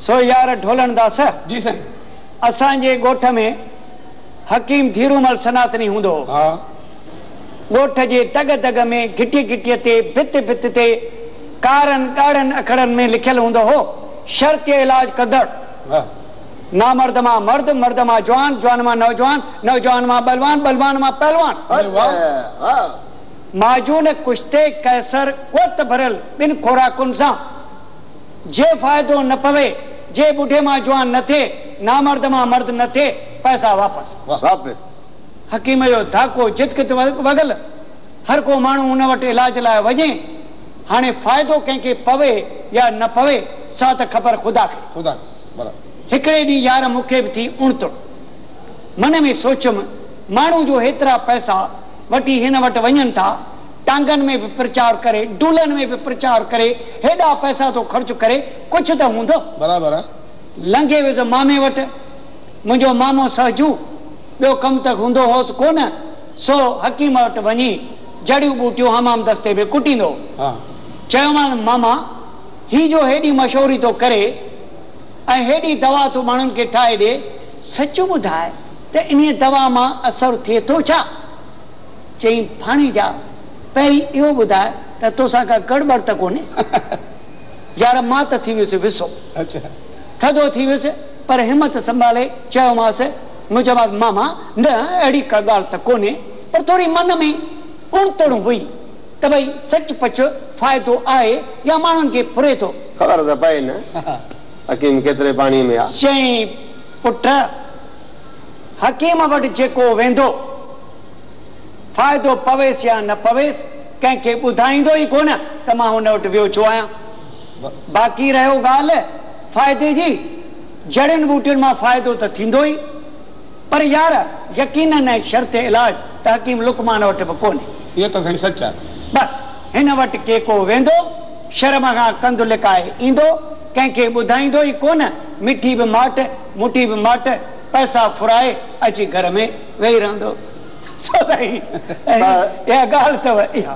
سو يار ڍولڻ داسه جي سائين. اسان جي ڳوٺ ۾ حڪيم ڌيرومل سناتني هوندو هو. ها. ڳوٺ جي دڳ دڳ ۾ گهٽي گهٽي تي ڀت ڀت تي ڪارن ڳاڙهن اکڙن ۾ لکيل هوندو هو شرط علاج ڪندڙ ها. نامرد مان مرد مرد مان جوان جوان مان نوجوان نوجوان مان ٻلوان ٻلوان مان پهلوان. اري واهه. معجون ڪشتي قيصر قوت ڀريل ٻن خوراڪن سان. جي فائدو نه پوي، جي ٻڍي مان جوان نه ٿئي، نامرد مان مرد نه ٿئي، پئسا واپس. واپس. حڪيم جو ڌاڪو جتڪت وڳل، هر ڪو ماڻهو ان وٽ علاج لاء وڃي، هاڻي فائدو ڪنهن کي پوي يا نه پوي، سا ته خبر خدا کي. خدا کي. برابر. هڪڙي ڏينهن يار مون کي به ٿي اڻتڙ. من ۾ سوچيم، ماڻهو جو هيترا پئسا وٺي هن وٽ وڃن ٿا، ٽانگن ۾ به پرچار ڪري، ڊولن ۾ به پرچار ڪري، هيڏا پئسا ٿو خرچ ڪري، ڪجهه ته هوندو. برابر آ. لنگهي ويس مامي وٽ. منهنجو مامو سهجو، ٻيو ڪم ته هوندو هوس ڪو نه، سو حڪيم وٽ وڃي جڙيون ٻوٽيون حمام دستي ۾ ڪٽيندو هو. چيومانس، ماما، هي جو هيڏي مشهوري ٿو ڪري ۽ هيڏي دوا ٿو ماڻهن کي ٺاهي ڏي، سچ ٻڌاء ته انهيء دوا مان اثر ٿئي ٿو ڇا؟ چيائين، ڀاڻيجا! پهرين اهو ٻڌاء ته توسان ڪا ڳڙ ٻڙ ته ڪونهي؟ يار مان ته ٿي ويس وسو. ٿڌو ٿي ويس پر همت سنڀالي چيومانس، منهنجومانس، ماما نه اهڙي ڪا ڳالهه ته ڪونهي پر ٿوري من ۾ اڻتڻ هئي ته ڀئي سچ پچ فائدو آهي يا ماڻهن کي ڦري ٿو. خبر ته پئي نه حڪيم ڪيتري پاڻيء ۾ آ. چيائين، پٽ! حڪيم وٽ جيڪو ويندو، فائدو پويس يا نه پويس، ڪنهن کي ٻڌائيندو ئي ڪونه ته مان هن وٽ ويو ڇو آهيان. باقي رهيو ڳالهه فائدي جي، جڙين ٻوٽين مان فائدو ته ٿيندو ئي، پر يار يقينن ۽ شرط علاج ته حڪيم لقمان وٽ به ڪونهي. اهو ته سائين سچ آهي. بس هن وٽ ڪيڪو ويندو، شرم کان ڪنڌ لڪائي ايندو، ڪنهن کي ٻڌائيندو ئي ڪونه، مٺي به ماٺ، موٽي به ماٺ، پئسا ڦرائي اچي گهر ۾ ويهي رهندو سو سائين اها ڳالهه اٿو اها.